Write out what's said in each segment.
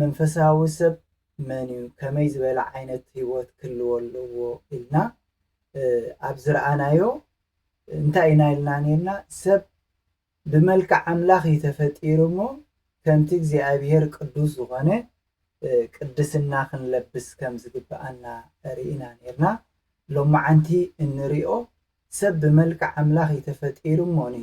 መንፈሳዊ ሰብ መን እዩ፣ ከመይ ዝበለ ዓይነት ህይወት ክህልዎ ኣለዎ ኢልና ኣብ ዝረኣናዮ እንታይ ኢና ኢልና ነይርና? ሰብ ብመልክዕ ኣምላኽ እዩ ተፈጢሩ እሞ ከምቲ እግዚኣብሄር ቅዱስ ዝኾነ ቅድስና ክንለብስ ከም ዝግብኣና ርኢና ነይርና። ሎማዓንቲ እንሪኦ ሰብ ብመልክዕ ኣምላኽ እዩ ተፈጢሩ እሞኒ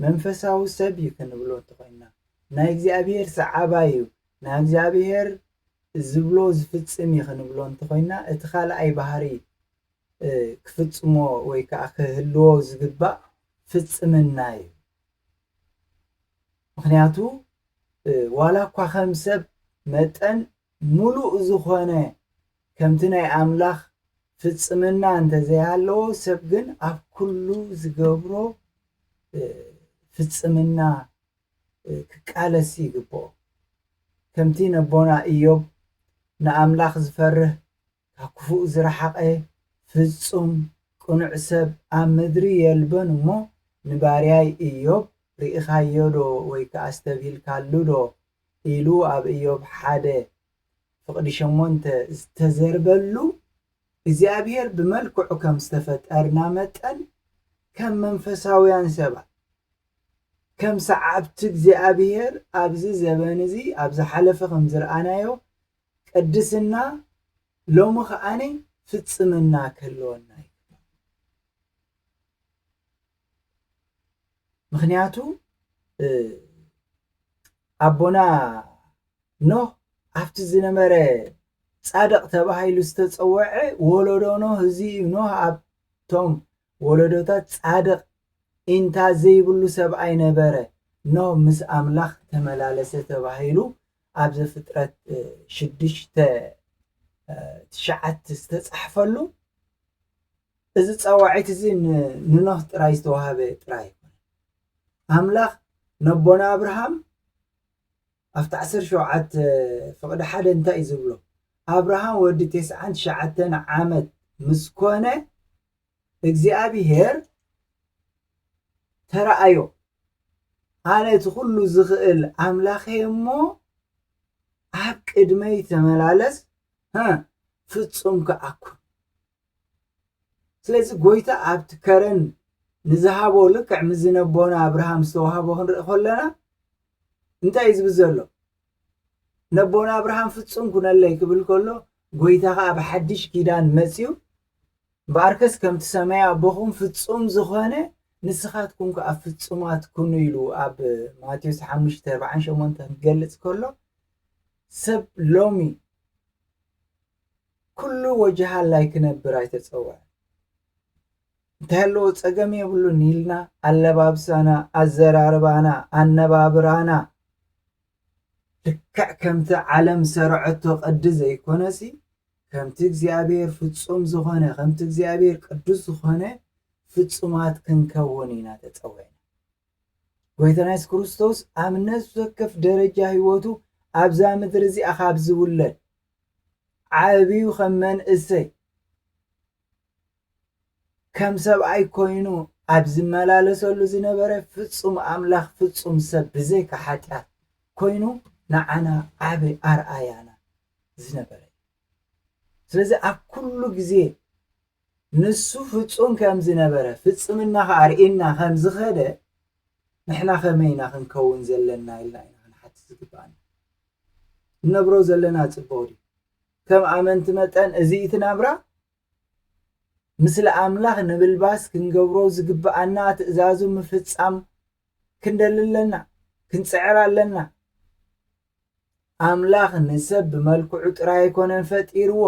መንፈሳዊ ሰብ እዩ ክንብሎ እንተኾይንና ናይ እግዚኣብሔር ሰዓባይ እዩ ናይ እግዚኣብሔር ዝብሎ ዝፍጽም እዩ ክንብሎ እንተኾይንና እቲ ካልኣይ ባህሪ ክፍጽሞ ወይ ከዓ ክህልዎ ዝግባእ ፍጽምና እዩ ምክንያቱ ዋላ እኳ ከም ሰብ መጠን ሙሉእ ዝኾነ ከምቲ ናይ ኣምላኽ ፍጽምና እንተ ዘይሃለዎ፣ ሰብ ግን ኣብ ኩሉ ዝገብሮ ፍጽምና ክቃለስ ይግብኦ። ከምቲ ነቦና እዮብ ንኣምላኽ ዝፈርህ ካብ ክፉእ ዝረሓቐ ፍጹም ቅኑዕ ሰብ ኣብ ምድሪ የልብን እሞ ንባርያይ እዮብ ርኢኻዮዶ ወይከ ኣስተብሂልካሉዶ ኢሉ ኣብ እዮብ ሓደ ፍቕዲ ሸሞንተ ዝተዘርበሉ እግዚኣብሔር ብመልክዑ ከም ዝተፈጠርና መጠን ከም መንፈሳውያን ሰባት ከም ሰዓብቲ እግዚኣብሔር ኣብዚ ዘበን እዚ ኣብ ዝሓለፈ ከም ዝረኣናዮ ቅድስና ሎሚ ከኣ ፍጽምና ክህልወና ይግባእ። ምኽንያቱ ኣቦና ኖህ ኣብቲ ዝነበረ ፃድቕ ተባሂሉ ዝተፀወዐ ወለዶ ኖህ እዚ እዩ ኖህ ኣብቶም ወለዶታት ፃድቕ ኢንታ ዘይብሉ ሰብኣይ ነበረ ኖህ ምስ ኣምላኽ ተመላለሰ ተባሂሉ ኣብ ዘፍጥረት ሽዱሽተ ትሽዓት ዝተፃሕፈሉ እዚ ጸዋዒት እዚ ንኖህ ጥራይ ዝተዋህበ ጥራይ ኣይኮነን። ኣምላኽ ነቦና ኣብርሃም ኣብቲ ዓሰርተ ሸውዓተ ፍቕዲ ሓደ እንታይ እዩ ዝብሎ? ኣብርሃም ወዲ ቴስዓን ትሽዓተን ዓመት ምስ ኮነ እግዚኣብሄር ተረኣዮ ኣነ እቲ ኩሉ ዝኽእል ኣምላኽ እየ እሞ ኣብ ቅድመይ ተመላለስ ፍጹም ከኣኩን ስለዚ ጎይታ ኣብቲ ከረን ንዝሃቦ ልክዕ ምስዚ ነቦና ኣብርሃም ዝተዋህቦ ክንርኢ ከለና እንታይ እዩ ዝብል ዘሎ ነቦና ኣብርሃም ፍጹም ኩነለይ ክብል ከሎ ጎይታ ከኣ ኣብ ሓድሽ ኪዳን መጽዩ እምበኣርከስ ከምቲ ሰማይ ኣቦኹም ፍጹም ዝኾነ ንስኻትኩም ከዓ ፍጹማት ኩኑ ኢሉ ኣብ ማቴዎስ ሓሙሽተ ኣርብዓን ሸሞንተን ክገልጽ ከሎ ሰብ ሎሚ ኩሉ ወጅሃላይ ክነብር ኣይተጸውዐን። እንታይ ኣለዎ ጸገም የብሉን ኢልና ኣለባብሳና፣ ኣዘራርባና፣ ኣነባብራና ልክዕ ከምቲ ዓለም ሰርዐቶ ቅዲ ዘይኮነሲ ከምቲ እግዚኣብሔር ፍጹም ዝኾነ ከምቲ እግዚኣብሔር ቅዱስ ዝኾነ ፍጹማት ክንከውን ኢና ተጸዊዕና። ጎይታና የሱስ ክርስቶስ ኣብ ነፍሲ ወከፍ ደረጃ ህይወቱ ኣብዛ ምድሪ እዚኣ ካብ ዝውለድ ዓብዩ ከም መንእሰይ ከም ሰብኣይ ኮይኑ ኣብ ዝመላለሰሉ ዝነበረ ፍጹም ኣምላኽ ፍጹም ሰብ ብዘይካ ሓጢኣት ኮይኑ ንዓና ዓቢ ኣርኣያና ዝነበረ እዩ ስለዚ ኣብ ኩሉ ግዜ ንሱ ፍጹም ከም ዝነበረ ፍጽምና ከ ኣርእና ከም ዝኸደ ንሕና ከመይ ኢና ክንከውን ዘለና ኢልና ኢና ክንሓትት ዝግባኣና ንነብሮ ዘለና ጽቡቕ ድዩ? ከም ኣመንቲ መጠን እዚ እቲ ናብራ ምስለ ኣምላኽ ንምልባስ ክንገብሮ ዝግብኣና ትእዛዙ ምፍጻም ክንደሊ ኣለና፣ ክንጽዕር ኣለና። ኣምላኽ ንሰብ ብመልክዑ ጥራይ ኣይኮነን ፈጢርዎ፣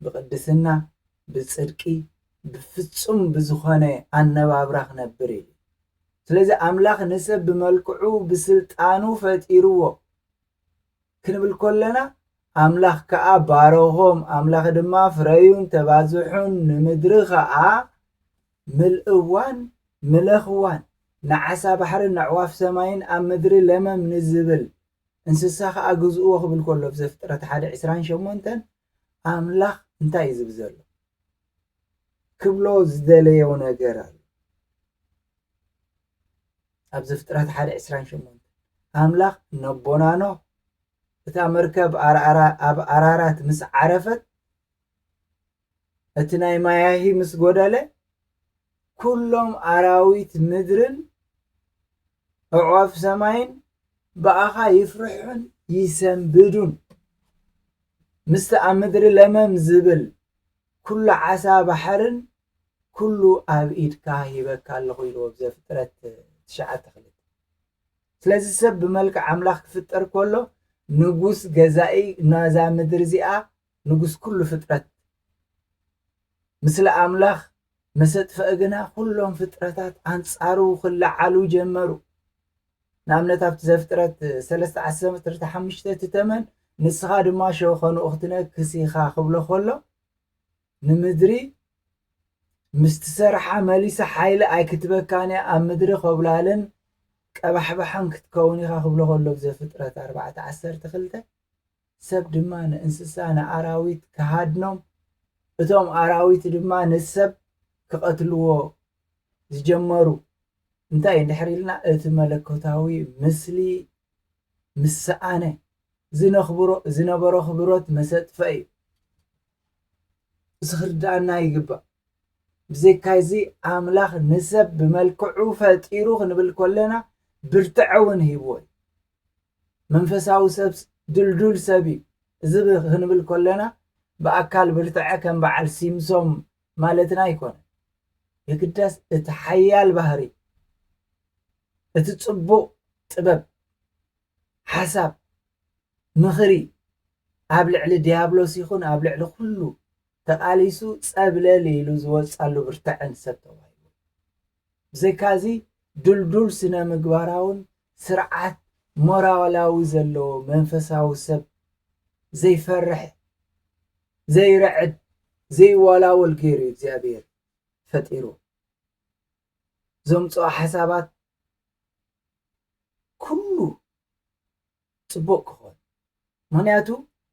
ብቅድስና ብጽድቂ ብፍጹም ብዝኾነ ኣነባብራ ክነብር ኢዩ ስለዚ ኣምላኽ ንሰብ ብመልክዑ ብስልጣኑ ፈጢርዎ ክንብል ኮለና ኣምላኽ ከኣ ባረኾም ኣምላኽ ድማ ፍረዩን ተባዝሑን ንምድሪ ኸኣ ምልእዋን ምለኽዋን ንዓሳ ባሕርን ነዕዋፍ ሰማይን ኣብ ምድሪ ለመም ንዝብል እንስሳ ከኣ ግዝእዎ ክብል ከሎ ኣብ ዘፍጥረት ሓደ ዕስራን ሸሞንተን ኣምላኽ እንታይ እዩ ዝብል ዘሎ ክብሎ ዝደለዮ ነገር ኣሎ ኣብ ዘፍጥረት ሓደ ዕስራን ሸሞንተን ኣምላኽ ነቦና ኖህ እታ መርከብ ኣብ ኣራራት ምስ ዓረፈት እቲ ናይ ማያሂ ምስ ጎደለ ኩሎም ኣራዊት ምድርን ኣዕዋፍ ሰማይን ብኣኻ ይፍርሑን ይሰንብዱን ምስቲ ኣብ ምድሪ ለመም ዝብል ኩሉ ዓሳ ባሕርን ኩሉ ኣብ ኢድካ ሂበካ ኣለኹ ኢልዎ ዘፍጥረት ትሽዓተ ክልተ ስለዚ ሰብ ብመልክዕ ኣምላኽ ክፍጠር ከሎ ንጉስ ገዛኢ ናዛ ምድሪ እዚኣ ንጉስ ኩሉ ፍጥረት ምስለ ኣምላኽ መሰጥፍኧ ግና ኩሎም ፍጥረታት ኣንጻሩ ክለዓሉ ጀመሩ። ንኣብነት ኣብቲ ዘፍጥረት ሰለስተ ዓሰርተ ሓሙሽተ እቲ ተመን ንስኻ ድማ ሸኸንኡ ክትነክስ ኢኻ ክብሎ ከሎ ንምድሪ ምስ ትሰርሓ መሊሳ ሓይሊ ኣይክትበካን እያ ኣብ ምድሪ ኮብላልን ቀባሕባሕን ክትከውን ኢኻ ክብሎ ከሎ ብዘፍጥረት ኣርባዕተ ዓሰርተ ክልተ ሰብ ድማ ንእንስሳ ንኣራዊት ክሃድኖም እቶም ኣራዊት ድማ ንሰብ ክቐትልዎ ዝጀመሩ እንታይ እንድሕር ኢልና እቲ መለኮታዊ ምስሊ ምስ ሰኣነ ዝነኽብሮ ዝነበሮ ኣኽብሮት መሰጥፈ እዩ እዚ ክርድኣና ይግባእ ብዘይካዚ ኣምላኽ ንሰብ ብመልክዑ ፈጢሩ ክንብል ኮለና ብርትዐ እውን ሂብዎ እዩ መንፈሳዊ ሰብስ ድልዱል ሰብ እዩ። እዚ ክንብል ከሎና ብኣካል ብርትዐ ከም በዓል ሲምሶም ማለትና ኣይኮነን። የግዳስ እቲ ሓያል ባህሪ፣ እቲ ጽቡቕ ጥበብ፣ ሓሳብ፣ ምኽሪ ኣብ ልዕሊ ድያብሎስ ይኹን ኣብ ልዕሊ ኩሉ ተቓሊሱ ጸብለል ኢሉ ዝወጽኣሉ ብርትዐን ሰብ ተባሂሉ። ብዘይካዚ ድልዱል ስነ-ምግባራውን ስርዓት ሞራላዊ ዘለዎ መንፈሳዊ ሰብ ዘይፈርሕ ዘይርዕድ ዘይዋላወል ገይሩ እዩ እግዚኣብሔር ፈጢሩ ዘምጽኦ ሓሳባት ኩሉ ጽቡቕ ክኾን። ምኽንያቱ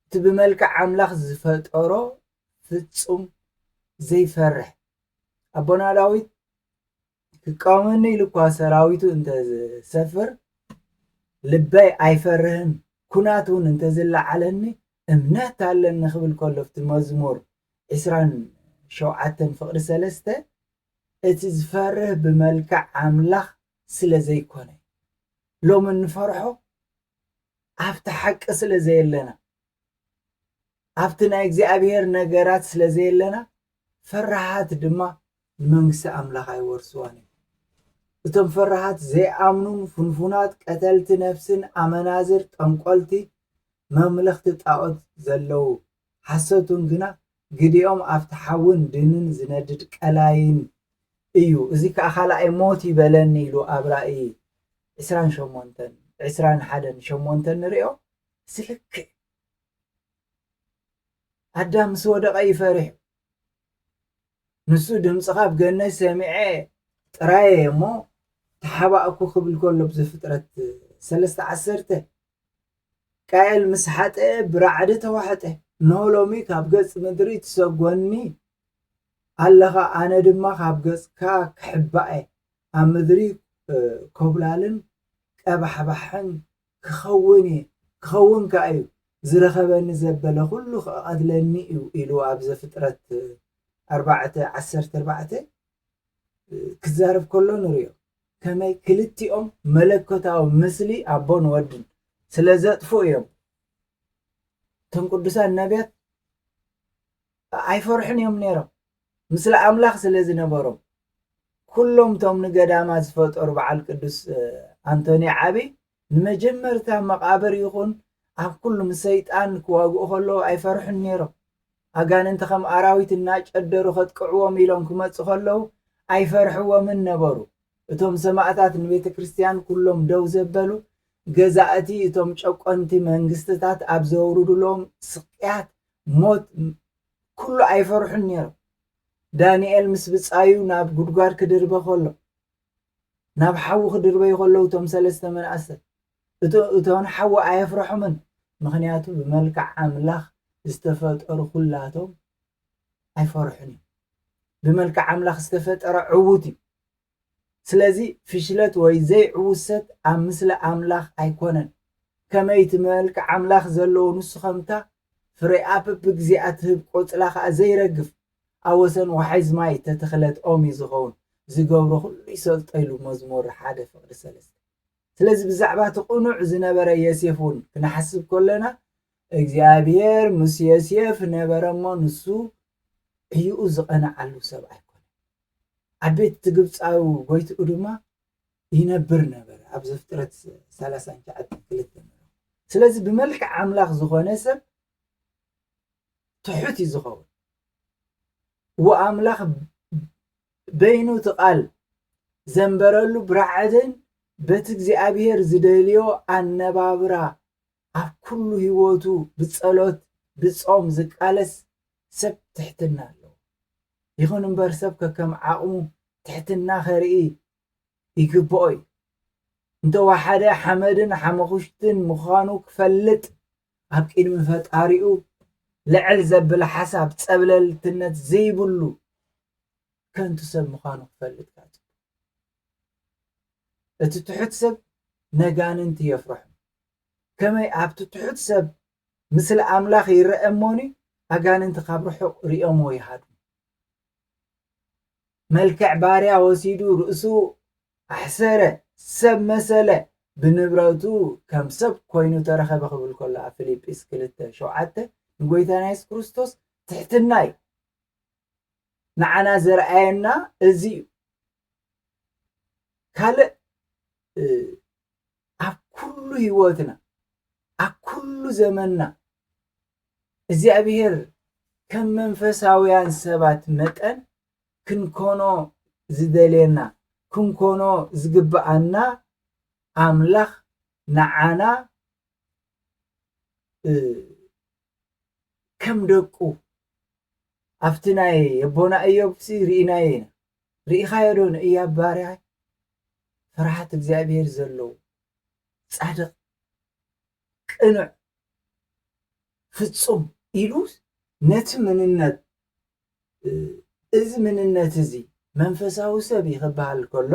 እቲ ብመልክዕ ኣምላኽ ዝፈጠሮ ፍጹም ዘይፈርሕ ኣቦና ዳዊት ክቃወመኒ ኢሉ እኳ ሰራዊቱ እንተ ዝሰፍር ልበይ ኣይፈርህን ኩናት እውን እንተ ዝለዓለኒ እምነት ኣለኒ ክብል ከሎ ኣብቲ መዝሙር ዕስራን ሸውዓተን ፍቕዲ ሰለስተ እቲ ዝፈርህ ብመልክዕ ኣምላኽ ስለ ዘይኮነ ሎሚ እንፈርሖ ኣብቲ ሓቂ ስለ ዘየለና ኣብቲ ናይ እግዚኣብሔር ነገራት ስለ ዘየለና ፈራሃት ድማ ንመንግስቲ ኣምላኽ ኣይወርስዋን እዩ እቶም ፈራሃት ዘይኣምኑን ፍንፉናት ቀተልቲ ነፍስን ኣመናዝር ጠንቆልቲ መምለኽቲ ጣዖት ዘለዉ ሓሰቱን ግና ግዲኦም ኣብቲ ሓዊን ድንን ዝነድድ ቀላይን እዩ እዚ ከኣ ካልኣይ ሞት እዩ በለኒ ኢሉ ኣብ ራእይ ዕስራን ሸሞንተን ዕስራን ሓደን ሸሞንተን ንርእዮ እዚ ልክዕ ኣዳም ምስ ወደቐ እዩ ፈሪሑ ንሱ ድምጽኻ ኣብ ገነይ ሰሚዐ ጥራይ እየ እሞ ተሓባእኩ ክብል ከሎ ብ ዘፍጥረት ሰለስተ ዓሰርተ ቃኤል ምስ ሓጠኤ ብራዕዲ ተዋሕጠ እንሆ ሎሚ ካብ ገጽ ምድሪ ትሰጎኒ ኣለኻ ኣነ ድማ ካብ ገጽካ ክሕባእ እየ ኣብ ምድሪ ኮብላልን ቀባሕባሕን ክኸውን እየ፣ ክኸውን ከኣ እዩ፣ ዝረኸበኒ ዘበለ ዅሉ ኽቐትለኒ እዩ ኢሉ ኣብ ዘፍጥረት ኣርባዕተ ዓሰርተ ኣርባዕተ ክዛረብ ከሎ ንርእዮ። ከመይ ክልቲኦም መለኮታዊ ምስሊ ኣቦን ወድን ስለ ዘጥፍኡ እዮም እቶም ቅዱሳን ነብያት ኣይፈርሑን እዮም ነይሮም ምስለ ኣምላኽ ስለ ዝነበሮም ኩሎም እቶም ንገዳማት ዝፈጠሩ በዓል ቅዱስ ኣንቶኒ ዓቢ ንመጀመርታ መቓብር ይኹን ኣብ ኩሉ ምስ ሰይጣን ክዋግኡ ከለዉ ኣይፈርሑን ነይሮም ኣጋንንቲ ከም ኣራዊት እናጨደሩ ከጥቅዕዎም ኢሎም ክመፁ ከለዉ ኣይፈርሕዎምን ነበሩ እቶም ሰማእታት ንቤተ ክርስቲያን ኩሎም ደው ዘበሉ ገዛእቲ እቶም ጨቆንቲ መንግስትታት ኣብ ዘውርዱሎም ስቅያት ሞት ኩሉ ኣይፈርሑን ነይሮም። ዳንኤል ምስ ብጻዩ ናብ ጉድጓድ ክድርበ ከሎ፣ ናብ ሓዊ ክድርበዩ ከለዉ እቶም ሰለስተ መናእሰት እቶ እቶን ሓዊ ኣየፍረሑምን ምክንያቱ ብመልክዕ ኣምላኽ ዝተፈጠሩ ኩላቶም ኣይፈርሑን እዮም። ብመልክዕ ኣምላኽ ዝተፈጠረ ዕዉት እዩ። ስለዚ ፍሽለት ወይ ዘይዕውሰት ኣብ ምስሊ ኣምላኽ ኣይኮነን። ከመይ እቲ መልክዕ ኣምላኽ ዘለዎ ንሱ ከምታ ፍሬኣ በብግዜኣ ትህብ ቆጽላ ከኣ ዘይረግፍ ኣብ ወሰን ዋሕዝ ማይ እተተኽለት ኦም እዩ ዝኸውን ዝገብሮ ኩሉ ይሰልጦ ኢሉ መዝሙር ሓደ ፍቕዲ ሰለስተ ስለዚ ብዛዕባ እቲ ቅኑዕ ዝነበረ የሴፍ እውን ክንሓስብ ከሎና እግዚኣብሔር ምስ የሴፍ ነበረ እሞ ንሱ ዕዩኡ ዝቐንዓሉ ሰብ ኣይኮነ ኣብ ቤት እቲ ግብጻዊ ጎይትኡ ድማ ይነብር ነበረ ኣብ ዘፍጥረት ሰላሳን ትሽዓተን ክልተ ስለዚ ብመልክዕ ኣምላኽ ዝኾነ ሰብ ትሑት እዩ ዝኸውን ወኣምላኽ በይኑ እቲ ቃል ዘንበረሉ ብራዕድን በቲ እግዚኣብሄር ዝደልዮ ኣነባብራ ኣብ ኩሉ ሂወቱ ብጸሎት ብጾም ዝቃለስ ሰብ ትሕትና ኣለዎ ይኹን እምበር ሰብ ከከም ዓቕሙ ትሕትና ከርኢ ይግብኦ እዩ እንተ ወሓደ ሓመድን ሓመኹሽትን ምዃኑ ክፈልጥ ኣብ ቅድሚ ፈጣሪኡ ልዕል ዘብል ሓሳብ ጸብለልትነት ዘይብሉ ከንቱ ሰብ ምዃኑ ክፈልጥ እቲ ትሑት ሰብ ነጋንንቲ የፍርሑ ከመይ ኣብቲ ትሑት ሰብ ምስሊ ኣምላኽ ይረኣ እሞኒ ኣጋንንቲ ካብ ርሑቕ ርእዮምዎ ይሃድሙ። መልክዕ ባርያ ወሲዱ ርእሱ ኣሕሰረ ሰብ መሰለ ብንብረቱ ከም ሰብ ኮይኑ ተረኸበ ክብል ከሎ ኣብ ፊልጵስ ክልተ ሸውዓተ ንጎይታና የሱስ ክርስቶስ ትሕትና እዩ ንዓና ዘርኣየና እዚ እዩ ካልእ ኣብ ኩሉ ህይወትና ኣብ ኩሉ ዘመንና እግዚኣብሔር ከም መንፈሳውያን ሰባት መጠን ክንኮኖ ዝደልየና ክንኮኖ ዝግብኣና ኣምላኽ ንዓና ከም ደቁ ኣብቲ ናይ የቦና እዮብሲ ርኢናዮ ኢና ርኢኻዮ ዶ ንእያብ ባርያይ ፍርሃት እግዚኣብሄር ዘለዎ ጻድቕ ቅኑዕ ፍጹም ኢሉ ነቲ ምንነት እዚ ምንነት እዚ መንፈሳዊ ሰብ እዩ ክበሃል ከሎ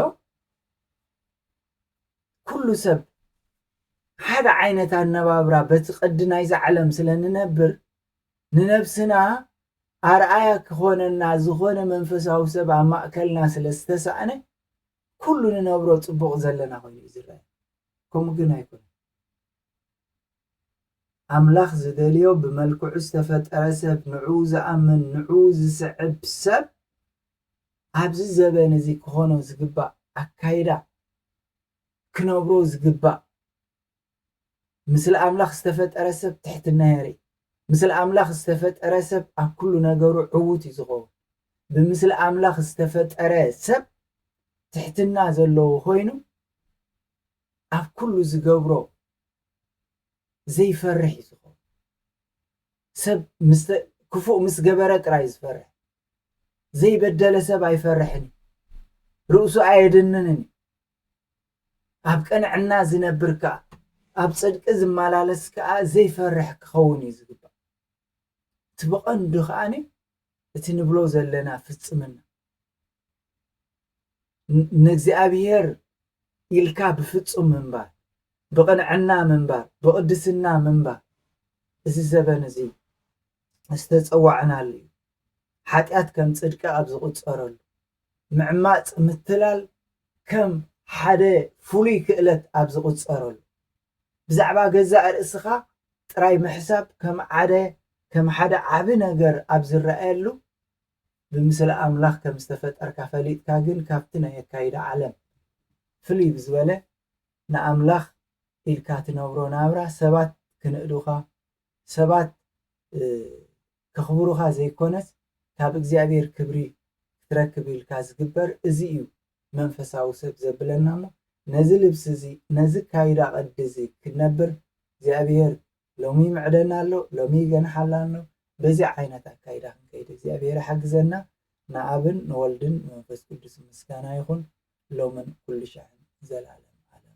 ኩሉ ሰብ ሓደ ዓይነት ኣነባብራ በቲ ቅዲ ናይዛ ዓለም ስለ ንነብር ንነብስና ኣርኣያ ክኾነና ዝኾነ መንፈሳዊ ሰብ ኣብ ማእከልና ስለ ዝተሳእነ ኩሉ ንነብሮ ጽቡቕ ዘለና ኮይኑ እዩ ዝረኣየና ከምኡ ግን ኣይኮነን ኣምላኽ ዝደልዮ ብመልክዑ ዝተፈጠረ ሰብ ንዕኡ ዝኣምን ንዕኡ ዝስዕብ ሰብ ኣብዚ ዘበን እዚ ክኾኖ ዝግባእ ኣካይዳ ክነብሮ ዝግባእ ምስለ ኣምላኽ ዝተፈጠረ ሰብ ትሕትና የርኢ ምስለ ኣምላኽ ዝተፈጠረ ሰብ ኣብ ኩሉ ነገሩ ዕዉት እዩ ዝኸውን ብምስለ ኣምላኽ ዝተፈጠረ ሰብ ትሕትና ዘለዎ ኮይኑ ኣብ ኩሉ ዝገብሮ ዘይፈርሕ እዩ ዝኸውን ሰብ ምስ ክፉእ ምስ ገበረ ጥራይ ዝፈርሕ ዘይበደለ ሰብ ኣይፈርሕን ርእሱ ኣየድንንን ኣብ ቅንዕና ዝነብር ከዓ ኣብ ፅድቂ ዝመላለስ ከዓ ዘይፈርሕ ክኸውን እዩ ዝግባእ እቲ ብቐንዱ ከዓኒ እቲ ንብሎ ዘለና ፍፅምና ንእግዚኣብሔር ኢልካ ብፍጹም ምንባር፣ ብቕንዕና ምንባር፣ ብቕድስና ምንባር እዚ ዘበን እዚ ዝተጸዋዕናሉ እዩ። ሓጢኣት ከም ጽድቂ ኣብ ዝቑጸረሉ፣ ምዕማጽ ምትላል ከም ሓደ ፍሉይ ክእለት ኣብ ዝቑጸረሉ፣ ብዛዕባ ገዛእ ርእስኻ ጥራይ ምሕሳብ ከም ዓደ ከም ሓደ ዓቢ ነገር ኣብ ዝረኣየሉ ብምስሊ ኣምላኽ ከም ዝተፈጠርካ ፈሊጥካ ግን ካብቲ ናይ ኣካይዳ ዓለም ፍልይ ብዝበለ ንኣምላኽ ኢልካ ትነብሮ ናብራ ሰባት ክንእዱኻ ሰባት ከኽብሩኻ ዘይኮነስ ካብ እግዚኣብሔር ክብሪ ክትረክብ ኢልካ ዝግበር እዚ እዩ መንፈሳዊ ሰብ ዘብለና እሞ ነዚ ልብሲ እዚ ነዚ ኣካይዳ ቅዲ እዚ ክንነብር እግዚኣብሔር ሎሚ ይምዕደና ኣሎ ሎሚ ይገንሓላ ኣሎ በዚ ዓይነት ኣካይዳ ክንከይድ እግዚኣብሔር ይሓግዘና ንኣብን ንወልድን ንመንፈስ ቅዱስ ምስጋና ይኹን ሎምን ኩሉ ሽሕን ዘላለም ኣለም